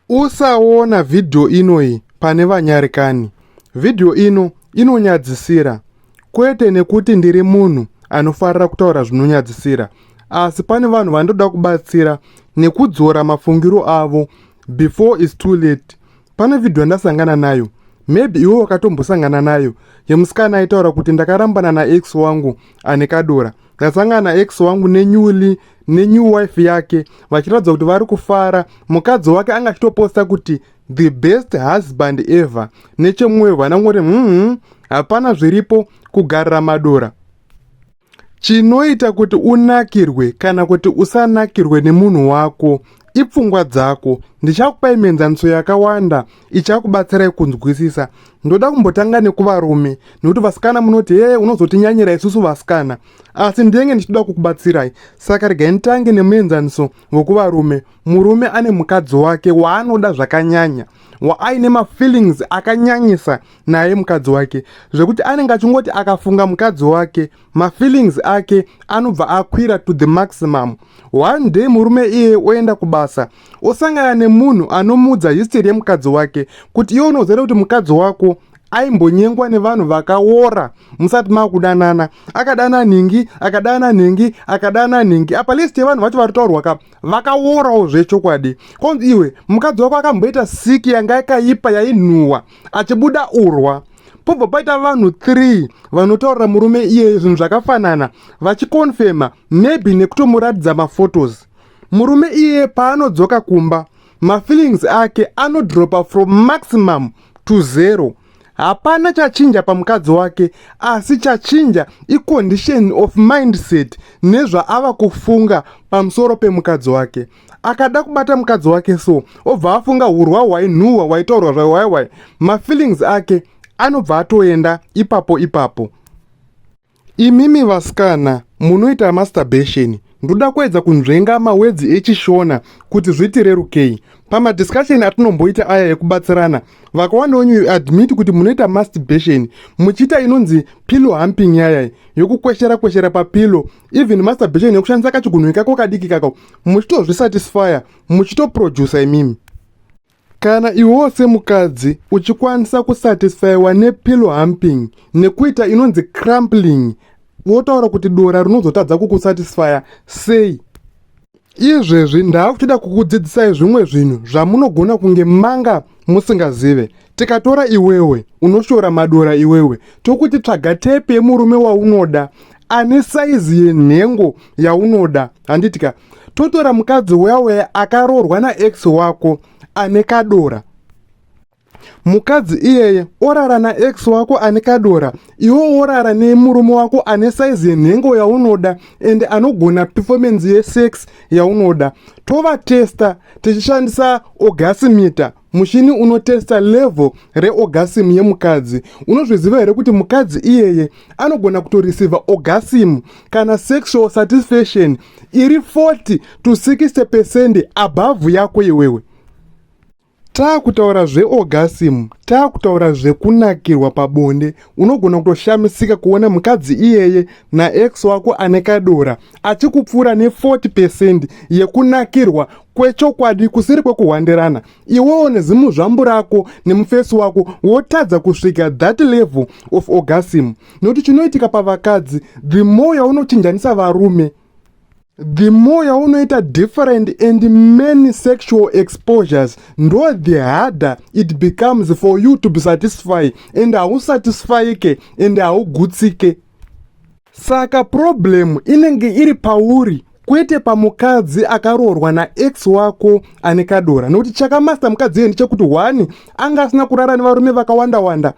Usaona vhidhiyo inoyi pane vanyarikani. Vhidhiyo ino inonyadzisira, kwete nekuti ndiri munhu anofarira kutaura zvinonyadzisira, asi pane vanhu vandoda kubatsira nekudzora mafungiro avo before is too late. Pane vhidhiyo yandasangana nayo, maybe iwe wakatombosangana nayo, yemusikana aitaura kuti ndakarambana naex wangu ane kadora. Ndasangana ex wangu nenyuli nenew wife yake vachiratidza kuti vari kufara mukadzi wake anga achitoposta kuti the best husband ever nechemwoyo vanangoti mhumhu hapana zviripo kugarira madora chinoita kuti unakirwe kana kuti usanakirwe nemunhu wako ipfungwa dzako ndichakupai mienzaniso yakawanda ichakubatsirai kunzwisisa ndoda kumbotanga nekuvarume nekuti vasikana munoti hee unozotinyanyira isusu vasikana asi ndenge ndichitoda kukubatsirai saka regai nditange nemuenzaniso wekuvarume murume ane mukadzi wake waanoda zvakanyanya waaine mafeelings akanyanyisa naye mukadzi wake zvekuti anenge achingoti akafunga mukadzi wake mafeelings ake anobva akwira to the maximum one day murume iye oenda kubasa osangana nemunhu anomuudza history yemukadzi wake kuti iwe unoziva kuti mukadzi wako aimbonyengwa nevanhu vakaora musati makudanana akadana nhingi akadana nhingi akadana nhingi apa list yevanhu vacho vari taurwa ka vakaorawo zvechokwadi konzi iwe mukadzi wako akamboita siki yanga yakaipa yainhuwa achibuda urwa pobva paita vanhu 3 vanotaurira murume iyeye zvinhu zvakafanana vachikonfema maybe nekutomuratidza maphotos Murume iye paanodzoka kumba mafeelings ake anodropa from maximum to zero. Hapana chachinja pamukadzi wake asi chachinja icondition of mindset nezvaava kufunga pamusoro pemukadzi wake. Akada kubata mukadzi wake so obva afunga hurwa hwainhuhwa hwaitaurwa zvaiwaiwai mafeelings ake anobva atoenda ipapo ipapo. Imimi vasikana munoita masturbation ndoda kuedza kunzvenga mawedzi echishona kuti zvitirerukei pamadiscussion atinomboita aya ekubatsirana vakawanda wenyu you admit kuti munoita masturbation muchiita inonzi pillow humping yaya yokukweshera kweshera papillow even masturbation yokushandisa kachigunhu ikako kadiki kako muchitozvisatisfya muchitoproducer imimi Kana iwewo semukadzi uchikwanisa kusatisfaiwa nepillow humping nekuita inonzi crumpling votaura kuti dora rinozotadza kukusatisfaya sei? Izvezvi ndaakutoda kukudzidzisai zvimwe zvinhu zvamunogona kunge manga musingazive. Tikatora iwewe unoshora madora iwewe tokuti tsvaga tepi yemurume waunoda ane saizi yenhengo yaunoda handitika totora mukadzi uya uya akaroorwa naex wako ane kadora mukadzi iyeye orara naex wako ane kadora iwo orara nemurume wako ane saizi yenhengo yaunoda ende anogona performance yesex yaunoda tovatesta tichishandisa ogasimita Mushini unotesta level reorgasm yemukadzi. Unozviziva here kuti mukadzi iyeye anogona kutoreceiva orgasm kana sexual satisfaction iri 40 to 60 percent above yako iwewe? Taakutaura zveorgasm, taakutaura zvekunakirwa pabonde unogona kutoshamisika kuona mukadzi iyeye naex wako ane kadora achikupfuura ne40 percent yekunakirwa kwechokwadi kusiri kwekuhwandirana iwewo nezimu zvambu rako nemufesi wako wotadza kusvika that level of orgasm nokuti chinoitika pavakadzi the more yaunochinjanisa varume the more yaunoita different and many sexual exposures ndo the harder it becomes for you to be satisfy and hausatisfyike and haugutsike saka problem inenge iri pauri kwete pamukadzi akaroorwa naex wako ane kadora nokuti chakamasta mukadzi iye ndechekuti one anga asina kurara nevarume vakawanda wanda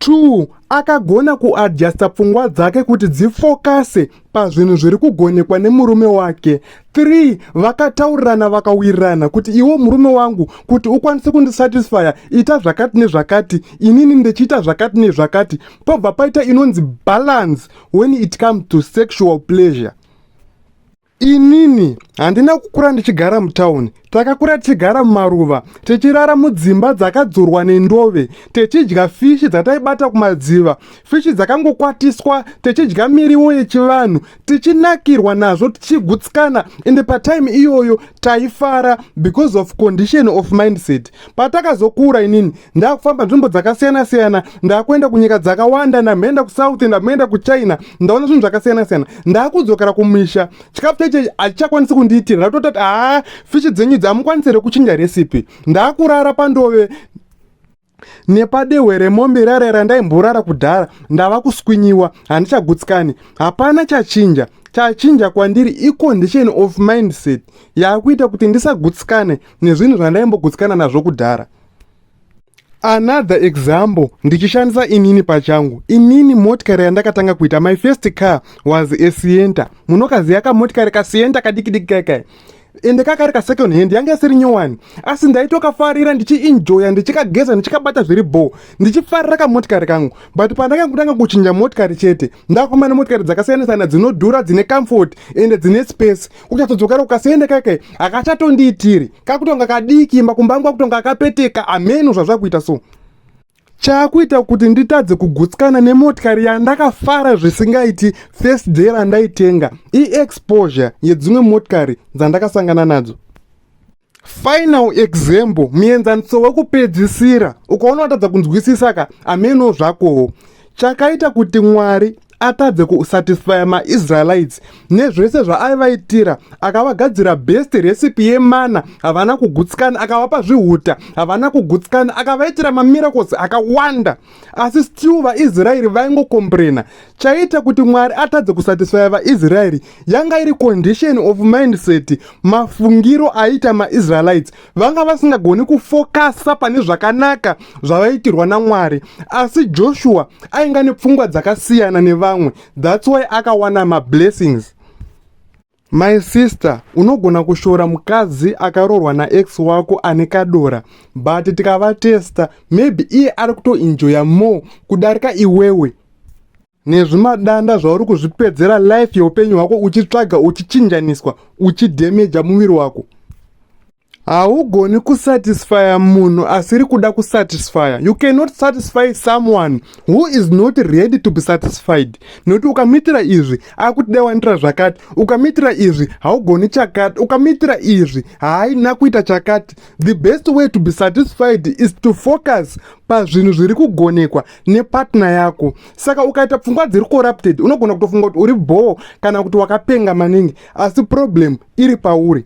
2 akagona kuadjusta pfungwa dzake kuti dzifokase pazvinhu zviri kugonekwa nemurume wake 3 vakataurirana vakawirirana kuti iwo murume wangu kuti ukwanise kundisatisfya ita zvakati nezvakati inini ndichiita zvakati nezvakati pobva paita inonzi balance when it comes to sexual pleasure Inini handina kukura ndichigara mutauni. Takakura tichigara mumaruva, tichirara mudzimba dzakadzurwa nendove, tichidya fishi dzataibata kumadziva, fishi dzakangokwatiswa, tichidya miriwo yechivanhu, tichinakirwa nazvo, tichigutsikana ende patime iyoyo taifara because of condition of mindset. patakazokura inini ndakufamba nzvimbo dzakasiyana siyana ndakuenda kunyika dzakawanda ndamhenda kusouth ndamhenda kuchina ndaona zvinhu zvakasiyana siyana ndakudzokera kumisha chikafu chaicho hachakwanisi kundiitira ndatotati haa fishi dzenyu idzi hamukwanisi here kuchinja recipe ndakurara pandove nepadehwe remombe rare randaimborara kudhara ndava kuswinyiwa handichagutsikani hapana chachinja chachinja kwandiri icondition of mindset yakuita kuti ndisagutsikane nezvinhu zvandaimbogutsukana nazvo kudhara another example ndichishandisa inini pachangu inini motikari yandakatanga kuita my first car was a sienta munokaziya kamotikari kasienta kadikidiki kaikai ende kakari kasecond hand yanga isiri nyowani asi ndaitokafarira ndichiinjoya ndichikageza ndichikabata zviri bho ndichifarira kamotikari kangu but pandanga kutanga kuchinja motikari chete ndafamba nemotikari dzakasiyana siyana dzinodhura dzine comfort ende dzine space kuchatodzokera kukasiyende kake akachatondiitiri kakutonga kadiki imba kumba angu akutonga akapeteka ameno zvazvakuita so chakuita kuti nditadze kugutsikana nemotikari yandakafara zvisingaiti first day randaitenga iexposure yedzimwe motikari dzandakasangana nadzo final example muenzaniso wekupedzisira ukaona watadza kunzwisisa ka ameno zvakowo chakaita kuti mwari atadze kusatisfya maisraelites nezvese zvaaivaitira akavagadzira best recipe yemana havana kugutsikana akavapa zvihuta havana kugutsikana akavaitira mamiracles akawanda asi still vaisraeri vaingokombrena chaiita kuti mwari atadze kusatisfaya vaisraeri yanga iri condition of mindset mafungiro aiita maisraelites vanga vasingagoni kufokasa pane zvakanaka zvavaitirwa namwari asi joshua ainga nepfungwa dzakasiyana nevamwe thats why akawana mablessings My sister unogona kushora mukadzi akarorwa naex wako ane kadora but tikavatesta maybe iye ari kutoenjoya more kudarika iwewe nezvimadanda zvauri kuzvipedzera life yeupenyu hwako uchitsvaga uchichinjaniswa uchidhemeja muviri wako haugoni kusatisfya munhu asiri kuda kusatisfya you cannot satisfy someone who is not ready to be satisfied nokuti ukamuitira izvi akuti dai wanitira zvakati ukamuitira izvi haugoni chakati ukamuitira izvi haaina kuita chakati the best way to be satisfied is to focus pazvinhu zviri kugonekwa nepatna yako saka ukaita pfungwa dziri corrupted unogona kutofunga kuti uri bhoo kana kuti wakapenga maningi asi problem iri pauri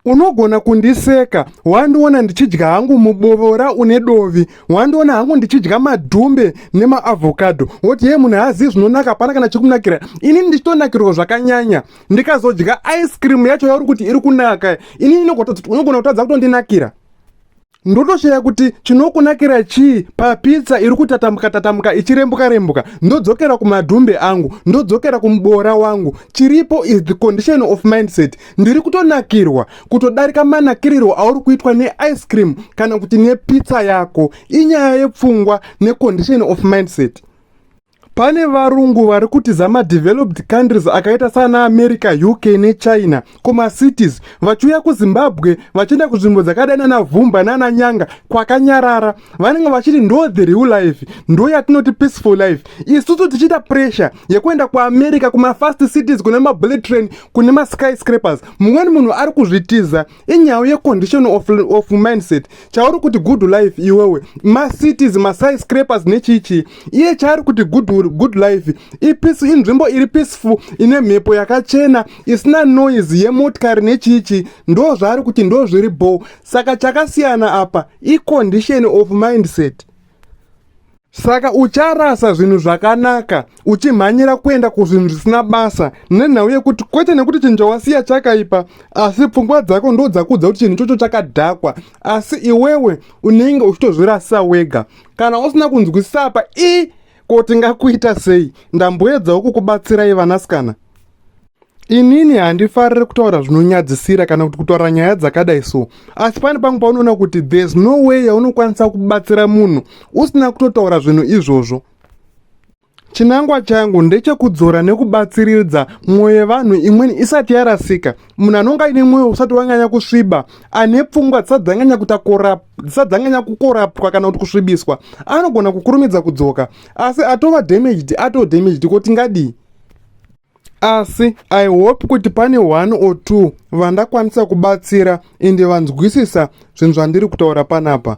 unogona kundiseka wandiona ndichidya hangu mubovora une dovi wandiona hangu ndichidya madhumbe nemaavhokadho woti ye munhu haazivi zvinonaka hapana kana chikunakira ini ndichitonakirwa zvakanyanya ndikazodya ice cream yacho yauri kuti iri kunaka ini unogona kutadza kutondinakira ndotoshaya kuti chinokunakira chii papitsa iri kutatambuka tatambuka ichirembuka rembuka ndodzokera kumadhumbe angu ndodzokera kumuboora wangu chiripo is the condition of mindset ndiri kutonakirwa kutodarika manakirirwo auri kuitwa neice cream kana kuti nepitsa yako inyaya yepfungwa necondition of mindset Pane varungu vari kutiza madeveloped countries akaita sana America, UK neChina kumacities vachiuya kuZimbabwe vachienda kunzvimbo dzakadai nana Vhumba nana Nyanga kwakanyarara. Vanenge vachiti ndo the real life, ndo yatinoti peaceful life. Isusu tichiita pressure yekuenda kuAmerica kumafast cities kune mabullet train kune maskyscrapers. Mumweni munhu ari kuzvitiza inyau yecondition of, of mindset chauri kuti good life iwewe macities masai scrapers nechichii iye chaari kuti good, good life ipeace inzvimbo iri peaceful ine mhepo yakachena isina noise yemotikari nechichii ndo zvaari kuti ndo zviri bho saka chakasiyana apa icondition of mindset saka ucharasa zvinhu zvakanaka uchimhanyira kuenda kuzvinhu zvisina basa nenhau yekuti kwete nekuti chinhu chawasiya chakaipa asi pfungwa dzako ndo dzakudza kuti chinhu ichocho chakadhakwa asi iwewe unenge uchitozvirasa wega kana usina kunzwisisa apa i ko tingakuita sei ndamboedzawo kukubatsirai vanasikana inini handifarire kutaura zvinonyadzisira kana kuti kutaura nyaya dzakadai so asi pane pamwe paunoona kuti there's no way yaunokwanisa kubatsira munhu usina kutotaura zvinhu izvozvo chinangwa changu ndechekudzora nekubatsiridza mwoyo yevanhu imweni isati yarasika munhu anonga aine mwoyo usati wanganya kusviba ane pfungwa dzisadzanganya kutakora dzisadzanganya kukorapwa kana kuti kusvibiswa anogona kukurumidza kudzoka asi atova damaged atodamaged ko tingadii asi i hope kuti pane one or two vandakwanisa kubatsira ende vanzwisisa zvinhu zvandiri kutaura panapa